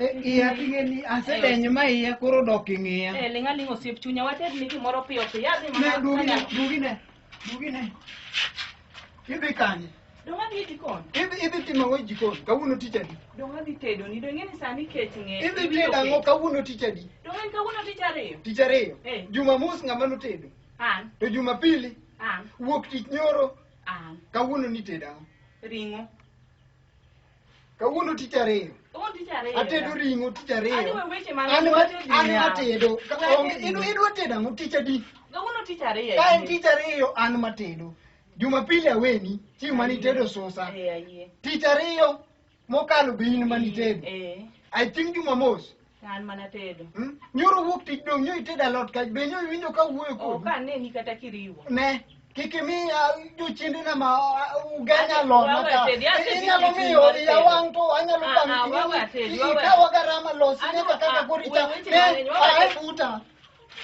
E iya ting'e ni asedenyo ma iya koro dok ing'iya. Eh, ling' aling' osiep chunya wated ni gimoro piyo piyo adhi Ne mana dugi ne dugi ne dugi ne. Idhi kanye? dong' adhi e jikon Idhi idhi timo ang'o e jikon? Kawuono tich adi? dong' adhi tedoni dong' ing'e ni sani kech ng'e Idhi tedo ang'o kawuono tich adi? dong' en kawuono tich ariyo Tich ariyo. Eh. Jumamus ng'ama notedo. an To Jumapili an wuok tich nyoro an kawuono nitedo ang'o? ring'o kawuono tich ariyo Kawuono tich ariyo. atedo ring'o tich Ani ariyo we weche man an ma- wacho an niya. matedo Ka- Weche onge- niya. in- idwa tedo ang'o tich adi Kawuono tich ariyo. ka en tich ariyo an matedo jumapili aweni chieng' mane itedo susa Eh, ayie. tich ariyo mokalo be in mane itedo Eh. i think jumamos An mana tedo. Hmm? Nyoro wuok tich dong' nyo itedo alot kach be nyo iwinjo ka wuoyo kodi. Ok aneni kata kiriwo. Ne. Kik imi ah, jochiendena ma ah, uganya alot maka. Inyalo miyo iya wang' to anyalo ah, bang' ikawa garama losi nyaka kaka koricha. Ne, ae buta.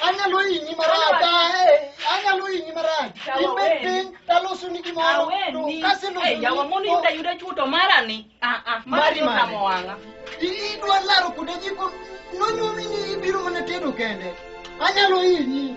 anyalo hinyi marach ae anyalo hinyi marach Yawa ibed weni. piny talosoni gimoro to Aweni. kaselosoni Eh, yawa mondo yuda yuda chuto mara ni. Ah ah. Mari Mari mari. motamo wanga. I- idwa laro kuonde jiko nonyuomi ni ibiro mana tedo kende anyalo hinyi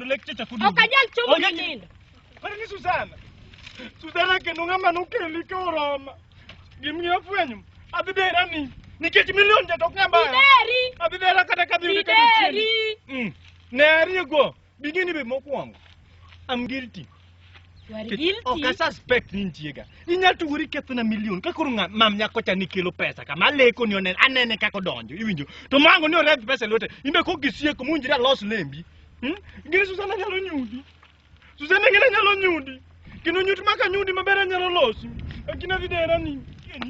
Lekche chakudi. Ok anyal chomo Onge- ni nindo. Kore ni Susana. Susana kendo ng'ama nokeli ka oroma. Gimiyo afwenyo. Adhi dera ni. Nikech milion ja tok ng'ama. Ideri. Adhi dera kata kadhi yudo ka nitie. Ideri. Mm. Ne ariyo go. Bingeni be mokwongo. I'm guilty. You are guilty. Ok asuspect ni nitiega. Inyalo tuori ketho na milion. Ka koro ng'a- mam nyako cha ni kelo pesa kama aleko ni onene anene kaka odonjo. Iwinjo? To mango ni orep pesa e lwete. Imbe kok gisieko munjira los lembi. Hmm? Gini Susana nyalo nyudi. Susana ngina nyalo nyudi. Kino nyut maka nyudi maber anyalo losi. Akina videra ni.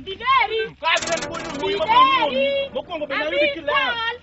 Bideri. Kwa videra ni bojo. Bideri. Mokwongo be na yudi Abisal. kileo.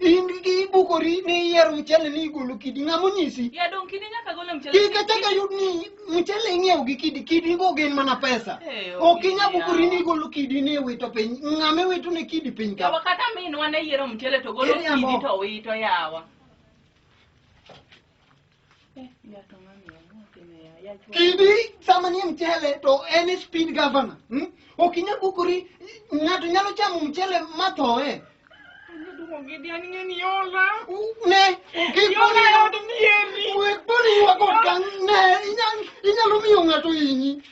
in gi ibukori ni iyiero mchele ni igolo kidi ng'ama onyisi Ya dong kidi nyaka gole mchele. kik achak ayud ni mchele ing'iewo gi kidi kidi go gin mana pesa Eh, ok inya okinya. bukori ni igolo kidi ni iwito piny ng'ama iwito ne kidi piny ka Yawa kata minwa ne yiero mchele to golo Iriambo. kidi to wito yawa. Kidi sama ni mchele to any speed governor. Hmm? Okinya kukuri ng'ato nyalo chamo mchele mathoe. Ne, kikoni wek boni yuago kang' ne, inyalo miyo ng'ato hinyi.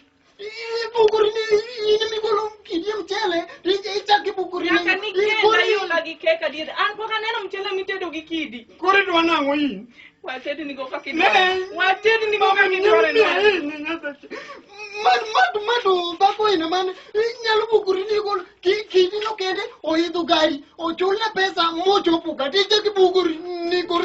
Nyaka nikenda iula gi kek adier. An pok aneno mchele mitedo gi kidi. Koro idwa nang'o in? Wated nigo kaka Ne. idware. Wated nigo Mama kaka ni idware. nyambi ahinya nyasache. Man mad mad dhako ina man inyalo bukuri ni gol ki kidi no kende oidho gari ochulne pesa mochopo kati chaki bukuri ni gol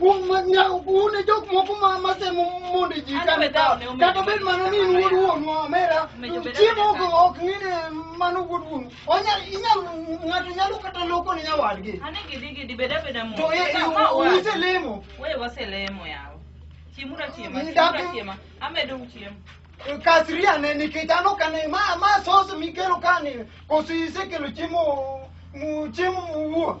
une jok moko ma masemo mondo ji kane ka kata bed mana ni in wuod wuonu omera chiemo ok ok ng'ine mano wuod wuonu onyal inyal ng'ato nyalo kata loko ne nyawadgi Ani gidi gidi beda beda mo. to e- Ka- ka e- wa- ise lemo Wewe waselemo yawo. Chiemura chiema, Ni chiemura dagi- chiema. Amedo uchiemo. kasiria ne nikech an ok ane ma ma sos mikelo kani koso isekelo chiemo mu- chiemo muwuo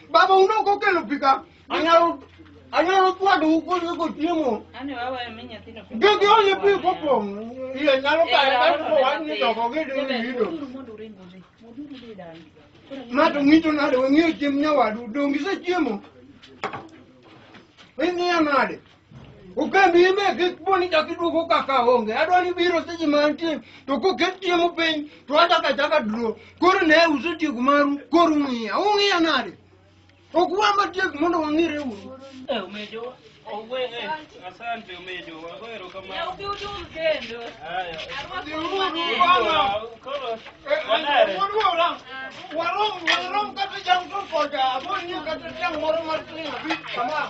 Baba un ok okelo pi ka. Anyalo anyalo chwado ukoso kochiemo. Ani wawa emi nyathino. Gigi onye pi kopong'. Iye nyalo kare ka ko wach ni doko gidi ni gido. Mato ng'icho nade weng'iyo chiemb nyawadu donge isechiemo? Ing'iyo nade? Okambi ime kik po ni chak iduogo kaka onge. Adwa ni biro seche ma antie to koket chiemo piny to achako achaka dro. Koro ne usetieko maru koro ung'iya. Ung'iya nade? Ok wa matiek mondo wang'ire uru. Eh, umejo. Owe, eh, asante umejo. Wagwero kama. Ya ubi udu mzendo. Haya. Bwana. Koro. Wanare. Warom, warom kata jam to koja. Aboni kata jam moro mar ting'o bi kama.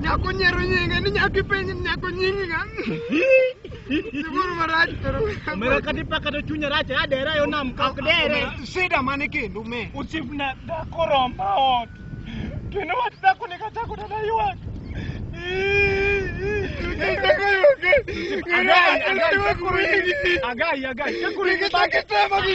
Nyako nyero nyinga ni nyako ipenji ni nyako nyingi nga. Siburu marach pero. Mera kati paka to chunya racha adera yo nam kak dere. Sida mane kindu me. Uchipna dakoromba ot. Kendo wach dhako ne kachako dala ywak. Agai, agai, kakurin mi banjo.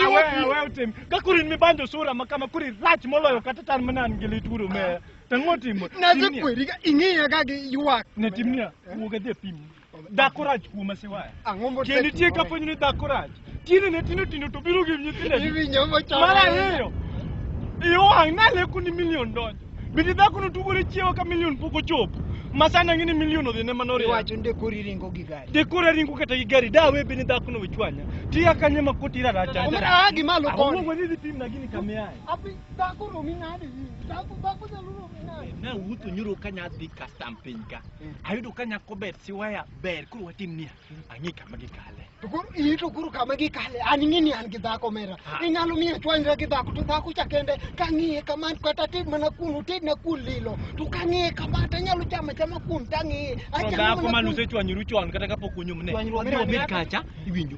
Awe, awe otim. Kakurin mi banjo sura ma kama kuri rach moloyo kata tan mana an gi lit uru me. Tang'o timo. Naze Timnia. kweri ka ing'iya ka gi ywak. Ne timnia, wuog adhi e pim. Dhako rach kuoma siwaya. Ang'o mo Kendo nitie ka fwenyo ni dhako rach. Tiende ne tindo tindo to biro gi nyithindo. Iwinjo mo chama. Mar ariyo. Iyo wang' naleko ni milion donjo. Bende dhako no tugore chiewa ka milion pok ochopo. Masani ang'e ni milion odhi ne manoriyo. Iwacho nde kori ringo gi gari. De kora ringo kata gi gari dawe bende dhako no wechwanya. Tiya kanye ma koti ra racha. Omera aa gi malo Ang'o koni. mo nidhi pim na gini kamiaye. Abi dhako romi nade? Dhako dhako nyalo romi nade? Na wuotho nyoro ka nya dhi custom piny ka. Ayudo ka nyako ber siwaya ber koro watim niya. Ang'e kama gikale. To koro iyi to koro kama gikale an ing'e ni an gi dhako mera Ah. inyalo miyo chwanyra gi dhako to dhako cha kende kang'iye kama to kata ted mana kuno ted na kuon lilo to kang'iye kama to anyalo chama chama kuon tang'iye To dhako mane usechwanyoru chon kata kapok unyumne. Chwanyruok Obiro bed kacha iwinjo.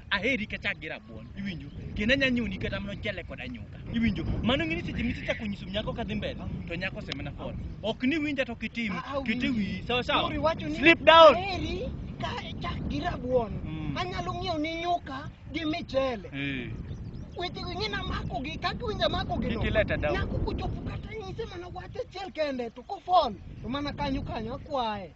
aheri kech gi rabuon iwinjo kendo anya nyuni kata mana ochele kod anyuka iwinjo mano ng'ini seche misechako nyiso nyako kadhi mbele to nyako osemena fon ok ni winja to kitim kete wiyi sawa sawa Nuri wacho ni sleep down aheri ka chak gi rabuon Mm. anyalo ng'iewo ni nyuka gi michele Eh, wechego ing'e namako gi kaka winja mako gi Kik ileta down. nyako kochopo kata nyise mana wach achiel kende to kofon to mana kanyo kanyo akwaye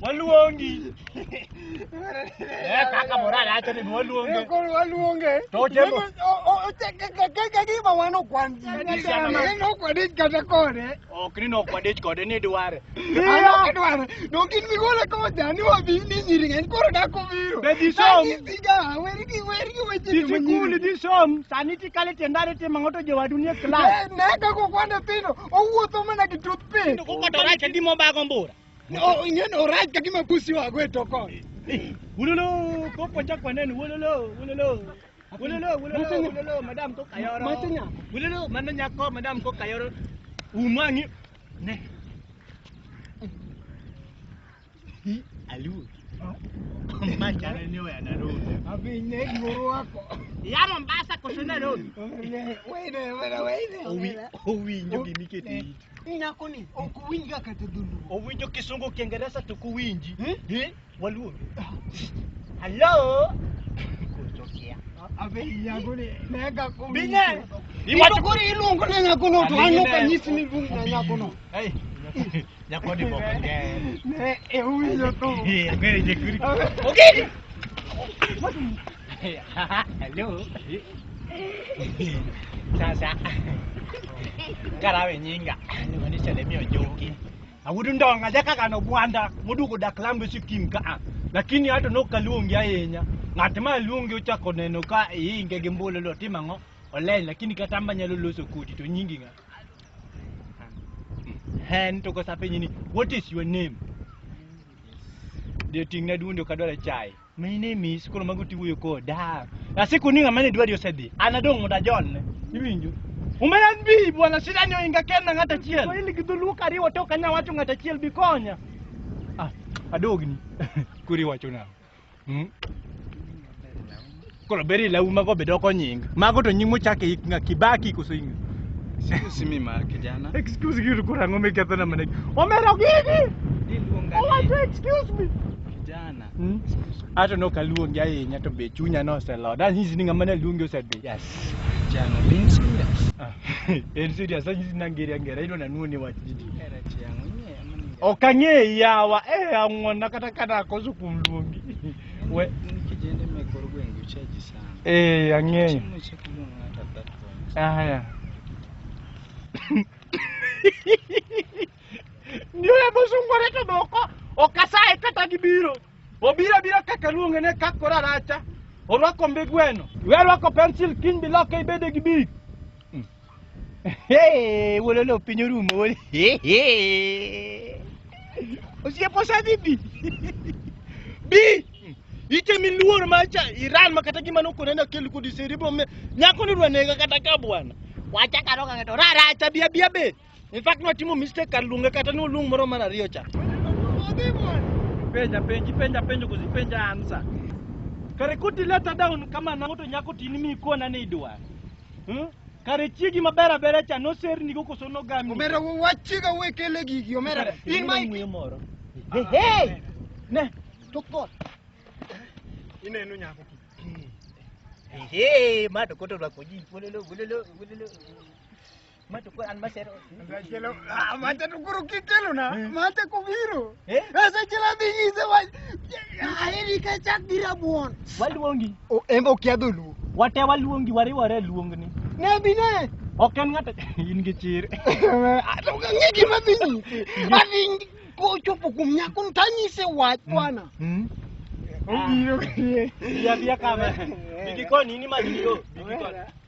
Waluongi. Eh kaka moral acha ni waluonge. Waluonge. To otemo. Kaka gima wano kwan ji. Kaka gima wano kwan ji kata kode. Ok ni no kwadich kode ni dware. Adwaro. Donge in migole kocha ni wabi ni nyiri ng'eny koro dak obiro. Be dhi som. Nyisiga weri gi weri gi weche Dhi joma sikul, nyiri. dhi som, sani tikale tiendari timo ng'oto jowadu nie klas. Eh, Ne kaka okwanda pino owuotho mana gi toothpick. Kokoto rach adi mobago mbura. O- Ing'eni orach ka gima pusi wago e tokon. Wololo, koko chak waneno, wololo, wololo. Wololo, wololo, Macha nya- wololo, madam kok ayoro. Macha nya- Wololo, mano nyako, madam kok ayoro. Umang'i, Ne. Hi, aluo. Ma chane ni oya Nairobi. Abi ne goro wako. Ya Mombasa koso Nairobi. Wene, wene, wene, wene. Owi, owinjo gini kete it. Nyako ni ok winj ga kata dholuo. Owinjo kisungu kiingereza to kuwinji. Eh? Waluo. Hello. Kuchokia. Abe yangu ni mega kumi. Bine. Iwacho kuri iluongo na nyakono to an ok anyis ni iluong na nyakono. Hey. Nyakoni boko nge. Ne e uwinjo to. Eh, ngere je kuri. Okay. Hello. Sasa. Karawe nyinga. Ni wanisha lemio joki. Awuod ndonga jaka kano gwanda moduogo dak lambe sikim ka a. Lakini ato nok kaluongi ahinya. Ng'at ma luongi ochako neno ka iinge gi mbolo lo timo ang'o? Oleny lakini kata amba nyalo loso kodi to nyingi ng'a? Hen to kosa penyi ni what is your name? Ndio ting'na duondi ok adwar chai. My name is koro mago tiwuoyo koda. Na siku ni ng'ama ne dwari osedhi. An adong' mondo ajolne. Iwinjo? Umena bi bwana shida ni oinga kenda ng'at achiel. To in gi dholuo kariwo to kanya wacho ng'at achiel bi konya. Ah, adogni. Kuri wacho nang'o? Hmm? Koro beri lau mago be doko nying. Mago to nying mochak e nga Kibaki koso inga. Excuse me ma kijana. Excuse you kura ngo me ketho na mane. Omero gigi. Iluonga Owacho ni excuse me. kijana. Hmm? Ato no kaluongi ahinya to be chunya no oselo. Dan hizi ni ngama ne luongi osedhi. Yes. Kijana being serious. Ah, En serious dan hizi nangeri angera ilo na nuone wach jiji. Era chiang' ing'eyo mani. Ok ang'eyi yawa. Eh ang'wona kata kana koso kuom luongi. We- Ni kijende mek kor gwenge uchaji sana. Eh, ang'eyo. Chiemo cha kumuon ng'ato at that point. Haya. Ndio ya bosungo reto doko. Okasaye kata gibiro. Obira bira kaka luonge ne kakora racha. Orwako mbe gweno. Werwako pencil kiny biloko ibede gi big. Hey, wolo lo piny orumo wolo. Osie posa dhi bi. Bi. Ite mi luor ma cha Iran ma kata gima nokone na kel kudi siri bo me. Nyako ni rwanega kata ka bwana. Wacha karo ka to rara cha bia bia be. In fact no timo mistake kar lunga kata no lung moro mar ariyo cha. Penja penji penja penjo kuzi penja ansa. Kare kuti leta down kama na moto nyako tini mi kona ni idwa. Hmm? Kare chiegi maber abera cha nosernigo koso nogami. Omera wach chiga we kele gigi omera. In ma ng'we moro. Hey, hey. Ne, tok bor. Ineno nyako ki. Hey, hey, ma to koto rwako ji. Wololo, wololo, wololo. Mate ko an masero. Chelo, ah, mate tu kuru kikelo na, mate kubiro. Eh? Asa chela bingi se wa, aheri ka chak dira buon. Waluongi. O embo kia dhulu. Wate waluongi wariwore luongni. Ne bine. Ok en ng'ato in gi chir. Ato ka ng'e gima dhi nyisi. Adhi kochopo kuom nyako ni tanyise wach bwana. Obiro krie. Yadhi kama. Bigi koni ni magi yo. Bigi koni.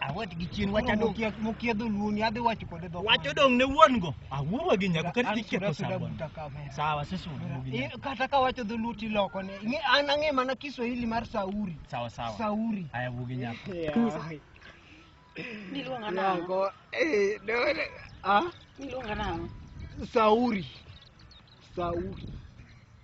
Awet gi chien wacha dong. Mokia dholuo ni adhi wacho kode dhok. Wacho dong ne wuon go. Awuo gi nyako kata iketho sabon. Sawa sisi wuon gi. Eh, kata ka wacho dholuo ti loko ne. Nge an ang'e mana Kiswahili mar Sauri. Sawa sawa. Sauri. Aya wuo gi nyako. Niluonga nango. Eh, dole. Ah? Niluonga nango. Sauri. Sauri.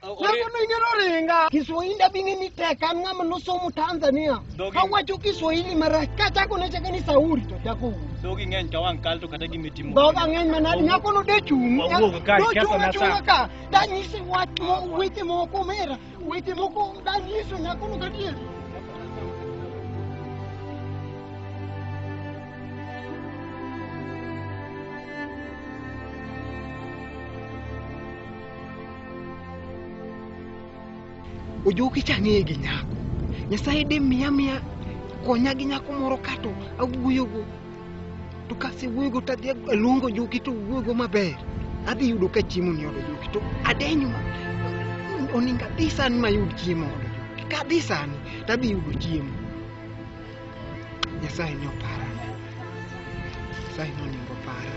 Nakono inyalo ringa. Kiswahili abing'e ni tek an ng'ama nosomo Tanzania. Dogi. Awacho Kiswahili marach kachako nachake ni Sauri to chako wuoyo. Dhogi ng'eny ka wang' kal to kata gima itimo. Dhoga ng'eny manadi nyako no de chung'. Wawuog ka, Nochung' ketho na achung'a sa. ka. Danyisi wach mo- weche moko mera. Weche moko danyiso nyako no gadier. ojoki cha ang'eye gi nyako nyasaye de miya miya konya gi nyako moro kato awuoyogo to kasewuoyogo to adhi aluongo ojoki to wuoyogo maber adhi yudo ka chiemo ni odo ojoki to adenyo ma oningo adhi sani mayud chiemo odo ojoki ka adhi sani to adhi yudo chiemo nyasaye ni opara nyasaye ni oningo opara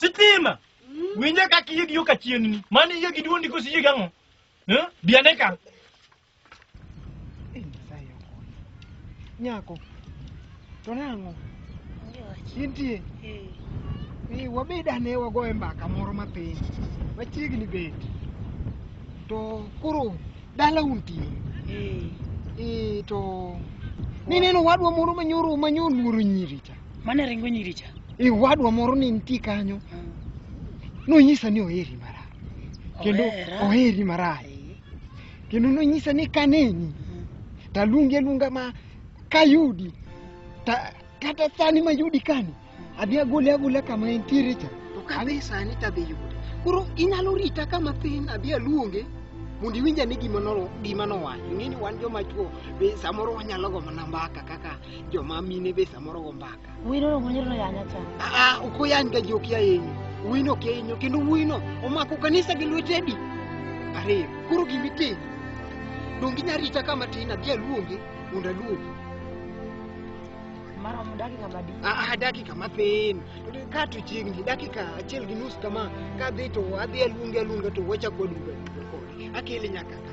Sitima. Winje ka kiye gi yo ka chien ni. Mani iye gi duondi kosi iye gang'o? Eh? Biane ka. Eh, Nyasaye okonya. Nyako. To nang'o? Intie. Ni wabed ane wagoye mbaka moro matin. Machiegni bet. To koro dala untie. Eh, to nineno wadwa moro manyoro manyoluoro nyiri cha. Mane ringo nyiri cha. E wadwa moro ne nitie kanyo. Nonyisa ni oheri marach. Kendo Ohera. oheri marach. Eh, Kendo nonyisa ni kaneni to aluongi aluonga ma kayudi ta, kata sani mayudi kani adhi agole agola kama entiere cha. To ka adhi sani to adhi yude. Koro inyalo rita kama thin adhi aluonge mondo iwinj ane gima noro- gima nowacho. Ing'e ni wan joma chwo be samoro wanyalo gombo na mbaka kaka joma mine be samoro go mbaka wino no ngonyero no yanya cha aa ok oyany ga ji ok yayenyi wino ok yayenyo kendo wino omako kanisa gi lwete adi ariyo koro gimitimo donge inya rita ka matin adhi aluonge mondo aluongi mara mudaki ngama di aa dakika mathin ka to chiegni dakika achiel gi nus kama kadhi to adhi aluonge aluonga to wachak waduga kode akele nyaka ka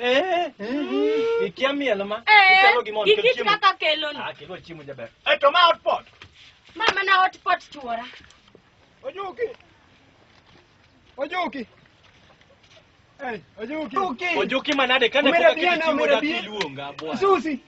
Eh, eh, ikia miel ma. Eh, Ichalo gi mon, kel ikit chiemo. kaka keloni. Ah, kelo chiemo jaber. Eh, to ma hot pot. Ma mana hot pot chuora. Ojuki. Ojuki. Hey, Ojuki. Ojuki manade kane Umera pok bia na, aketo chiemo umera daki bia. luonga bwana. Susi.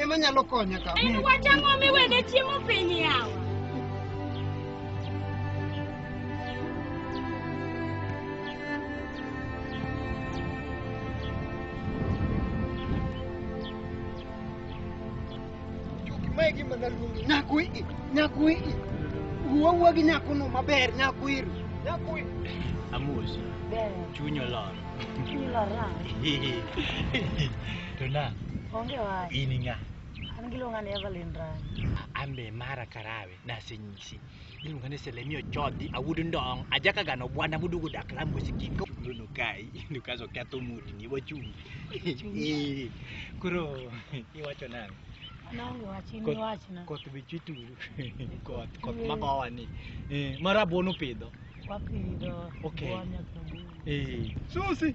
ema nyalo konya ka. En wach ang'o miwene chiemo piny yawa? Mae gima naluongo nyako i nyako i wuo wuo gi nyakono maber nyako iri nyako i Amos, chuny olor. Chuny olor nang'o? To nang'? Onge wach. In ng'a? An giluonga ni Evelyn Rang. An be mara Karawe nasenyisi. Iluonga ni Selemi Ochodhi, awuod ndong', ajaka gano bwana mudugo dak lamu sikiko. Luno kai, ino kaso ketho mudi ni wachungi. Eh, Koro iwacho nang'? An onge wach, in Kot- iwachna. Koth be chituru. Koth, koth Eh. magowa ni. Eh, mara buono pidho. Wapidho Okay. buonya kod buonya. Eh, Susi.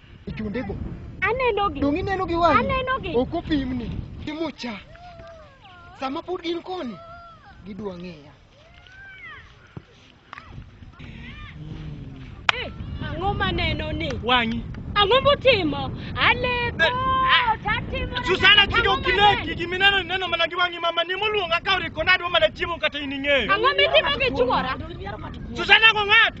e chondego. Anenogi. Donge ineno gi wang'i? Anenogi. Ok opimni gi mucha. Sama pod gin koni, gidwa ng'eya. Eh, Ang'o maneno ni? Wang'i. Ang'o motimo? Aleko, tatimo. Susana kik ok inegi gima ineno ineno mana gi wang'i mama ni moluonga ka oriko nadwa mana chiemo kata in ing'eyo. Ang'o mitimo gi chuora? Susana go ng'ato.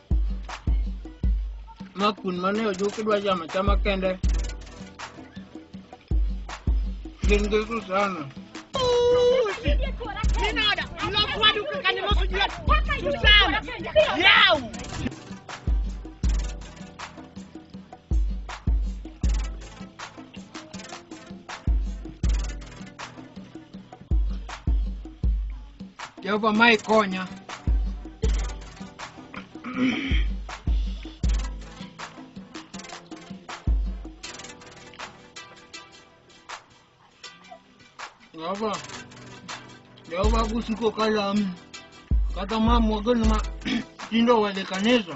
ma kun mane ojuk idwa chamo chama kende gin gi Susana. Minada, lok wadu kaka ne mosu juat. Susana, yaw. Jehova ma ikonya. Jehova, Jehova kusiko kalamu kata mamwa gani ma tindo wale kanisa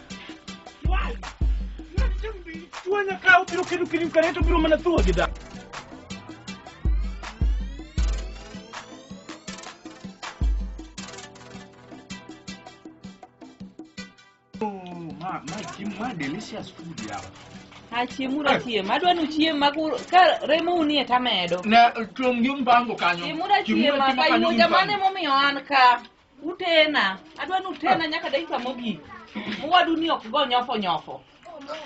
Why? Nothing be. Tuan na kau piru kiru kirim kareto piru mana tua kita. Oh, ma, ma, Jim, ma, delicious food yawa. achiem uru achiem adwa ni uchiem ma ku- ka remo unie tamedo Ne, tuom gi mpango kanyo. chiem uru achiem ma kayuoja mane momiyo an ka Utena, adwa ni utena nyaka dakika mogik. Owadu ni ok go nyofo nyofo.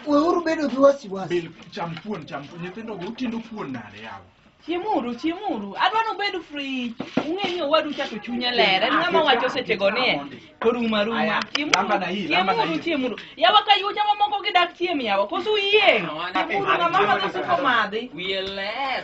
Weuru bedo gi wasiwasi. Bil cham kuon cham kuon nyithindo go utindo kuon nade yawa. Chiemuru, chiemuru. Adwa ni ubed free. Ung'e ni owadu cha to chunye ler. En ng'ama wacho sechego ni e. To ruma ruma. Aya, Chiemuru, lamba na hii, lamba na chiemuru, hii. chiemuru. Yawa ka yucha mamoko gidak chiem yawa. Koso uyieng'. Chiemuru ng'ama madho siko madhi. Wiye ler.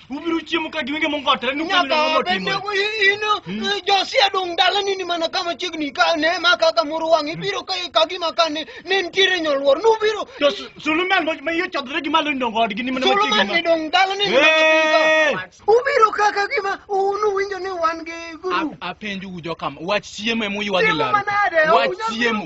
Ubiro chiemo ka giwinge mongotre ni nyaka bende ino hmm. eh, josia dong' dalani ni mana kama chiegni ka ne ma kaka moro wang' ibiro ka ka gima ka ne ne nitiere nyoluor nubiro to Suluman ma yo chodre gi malo ndong odgi ni mana ma chiegni Suluman dong' dalani ni mana ubiro ka ka gima unu winjo ni wan gi guru apenju ujo kam wach chiemo emu ywagi laro wach chiemo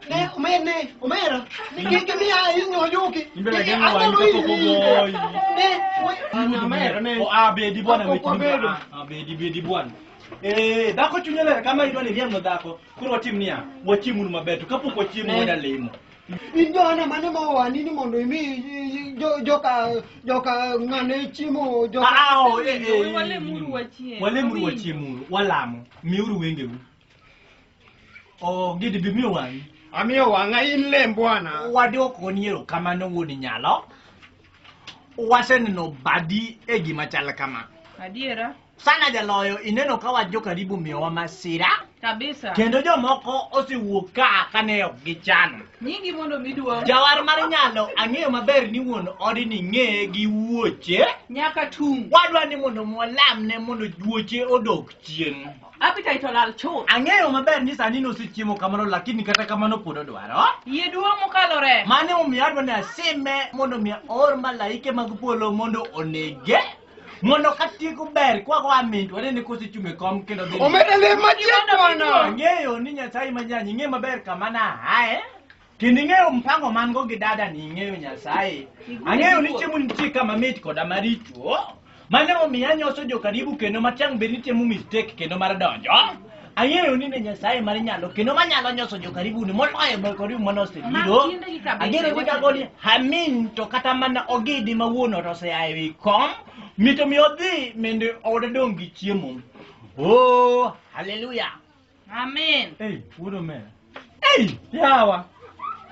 Ne, omera ne, omera. Kiki mi ayi nyojuki. Imbele Kiki gani anga wanyi luyi. koko boy. Ne, we- omera ne. O abedi bwana Koko wetu. bedo. Abedi bedi bwana. Eh, dhako chunye ler kama idwa ni riemno dhako. Koro watim niya, wachiemuru maber to kapok wachiemo Ne. wada lemo. In joana mane ma owani ni mondo imi jo- joka joka ng'ane chiemo joka Ah, ah, oh, eh, eh. Walemuru wachiem. Walemuru wachiemuru, walamo. Miuru wengeu. Oh, gidi bimiyo wang'i. Amiyo wang'a in lem bwana. Wadwoko ni erokamano wuod nyalo. Waseneno badi e gima chal kama. Adiera. Sana jaloyo ineno ka wach jokaribu miyowa masira. Kabisa. Kendo jomoko osewuok ka kane ok gichano. Nyingi mondo miduong'. Jawar mar nyalo ang'eyo maber ni wuon odi ni ng'eye gi wuoche. Nyaka tung'. Wadwa ni mondo mwalamne mondo wuoche odog chien. Appetite olal chuth. Ang'eyo maber ni sani nosechiemo kamano lakini kata kamano pod odwaro. Yie duong' mokalo remo. Mano emomiyo adwa ni asime mondo mi aor malaike mag polo mondo onege. Mondo ka tieko ber kwa kwa min to anene kosechung' e kom kendo dhi. Omedele machiek mwana. Ang'eyo ni Nyasaye manyanyi ing'e maber kama na aye. Kendo ing'eyo mpango man go gi dada ni ing'eyo Nyasaye. Ang'eyo ni chiemo nitie kama mit koda maricho. Mane omiyo anyoso jo karibu kendo matang' bed ni temo mistake kendo mar donjo. Ang'eyo ni ne Nyasaye mar nyalo kendo manyalo nyoso jo karibu ni moloyo jo karibu mane osebiro. Ang'eyo ni kago ni hamin to kata mana ogidi ma wuon ot osea e wi kom. Mito mi odhi mende ode dong' gi chiemo. Oh, haleluya. Amen. Hey, wuodo me. Hey, yawa.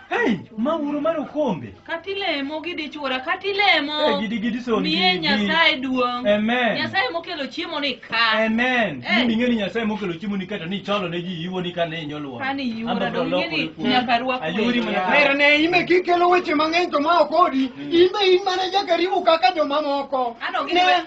Hey, ma wuodo mar okombe. Kati lemo gidi chwora, kati lemo. Hey, gidi gidi son. Miye gidi. Nyasaye duong'. Amen. Nyasaye mokelo chiemo ni ka. Amen. Hey. Mimi ngeni Nyasaye mokelo chiemo ni kato ni cholo ne ji iwo ni kane inyolwa. Kani iwora do ngeni nyaka rwa kwe. Ayuri mana. Pero ne ime kikelo weche mang'eny to ma okodi. Mm. Ime in mana jakaribu kaka jomamoko. Ano gidi.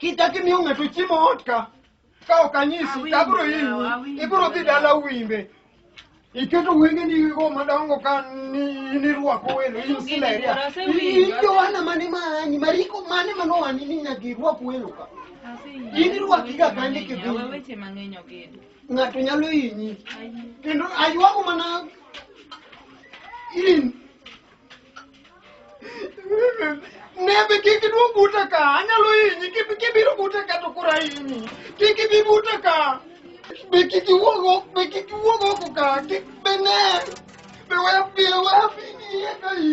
Kichak imiyo ng'ato chiemo ot ka ka ok anyisi to abiro hinyi ibiro dhi dala wimbe iketo wengeni go madongo ka ni- nirwako welo in sileria in jowana mane maanyi mariko mane manowani ni nyaka irwak welo ka In irwakiga kandi kidhi. Awe weche mang'eny okid. ng'ato nyalo hinyi kendo aywago mana in Nebe kik iduo buta ka, anyalo hinyi, kib- kibiro buta ka to koro ahinyi. Kik ibi buta ka. Be kik iwuog oko, be kik iwuog oko ka, kik be ne. Be we be we afini iye ka i.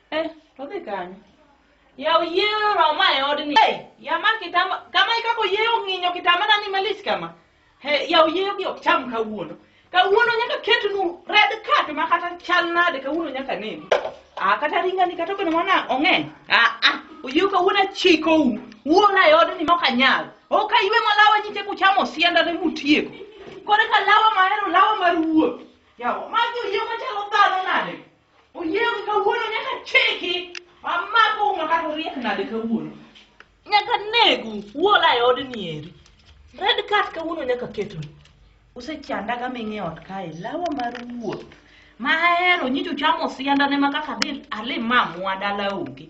Eh, to dhi kanyo. Yaw yie roma e odni. Hey, yama kitama kama ikako yie ong'inyo kitama nani malich kama. He, yaw yie gi ok cham kawuono. Kawuono nyaka ketnu red card ma kata chal nade kawuono nyaka nini. Ah, kata ringa ni kata kono mana ong'eny. Ah, ah, oyie kawuono achiko u. Wuola e odni ma ok anyal. Ok aywe malawa nyite kuchamo sienda ne mutieko. Kore ka lawa mahero lawa mar wuoth. Yawa, magi oyie machalo dhano nade? Oyiewi kawuono nyaka cheki. Amako uma kata oriek nade kawuono. Nyaka negu uola e odni eri. Red card kawuono nyaka ketu. Usechandaga ming'e ot kae lawa mar wuoth. Ma ahero nyicho chamo siandane ma kaka dhi ali mamwa dala onge.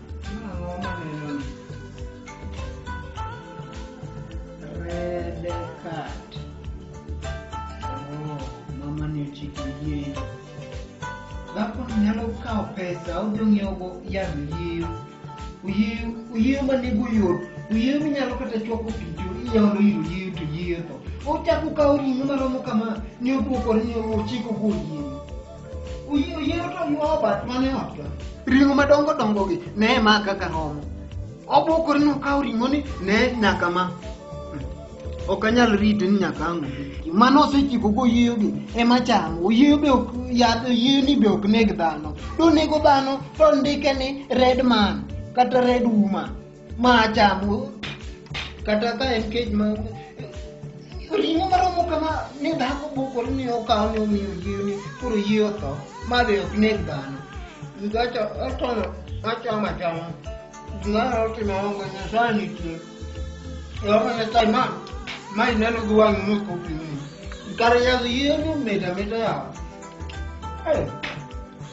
Red card. Oh, mama ni ochiko yieyo. Dhako ni nyalo kawo pesa odhi ong'iewogo yadh oyieyo. Oyieyo oyieyo ma nego yot. Oyieyo minyalo kata chwako pi to iolo ir oyieyo to oyieyo tho. Ochako kawo ring'o maromo kama ni oduokore ni ochiko go oyieyo. Oyiero to nyuowo bat mane otga. Ring'o madongo dongogi ne ma kaka romo. Obokore nokawo ring'oni ne nyaka ma. Ok anyal rite ni nyaka ang' obiki. Mano osechiko go oyieyo gi ema chamo. Oyieyo be ok yath oyieyo ni be ok neg dhano. Donego dhano to ndike ni red man kata red woman. Ma chamo kata ka en kech ma ring'o maromo kama ne dhako bukore ni okawo ni omiyo yie ni koro yie otho ma be ok neg dhano gacha otono achamo achama gimara otimo ongo nyasaye nitie ongo nyasaye ma ma ineno gi wang'i ni kopimi kar yadh yie ni mit amita yawa Eh,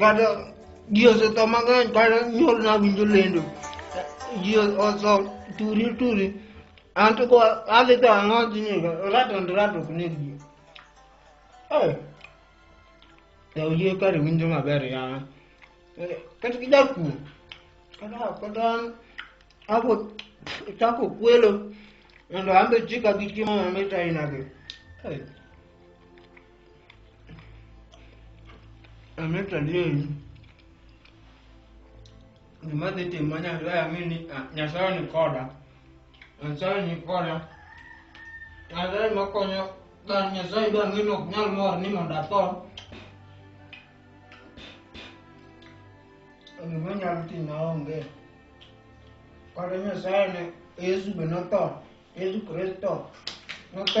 kata ji osetho mang'eny kata nyuol nawinjo lendo ji otho turi turi an to ko adhi to ang'oji ni rat and rat ok neg ji yaw yie kare winjo maber yawa kata gi jakuo kata kata an abo chako kwelo mondo an be chika gi chiemo mamit ainagi Ameta dini gima dhi timo Nyasaye ang'e ni ah, Nyasaye ni koda. Nyasaye ni koda. Nyasaye makonyo dhano Nyasaye be ang'e ni ok nyal mor ni mondo atho. Gima nyalo timo aonge. Kata Nyasaye ne Yesu be notho. Yesu Kristo notho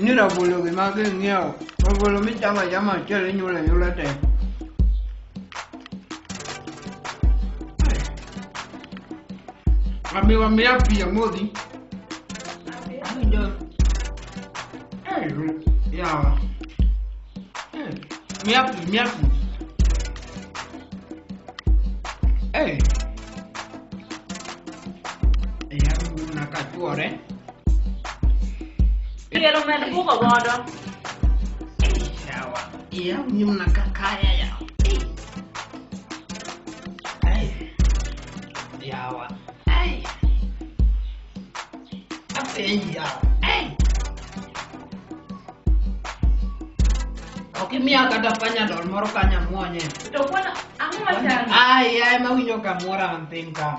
Ni rabolo gi mag ing'iewo. Rabolo michamo achama achiel inyulo anyula te. Amiwa miya pi amodhi. Awinjo. Eh, yawa. Eh, miya pi, miya pi. Eh. Yawa, nakachwore. Piero med bugo godo. Yawa, yaw nyimna kakaya yaw. Ai, yawa, ai. Apenj yawa, ai. Ok imiya kata panyadol moro kanyo amwonye. To kwano, ang'o machandi? Ai, ai, mawinjo kamoro an piny ka.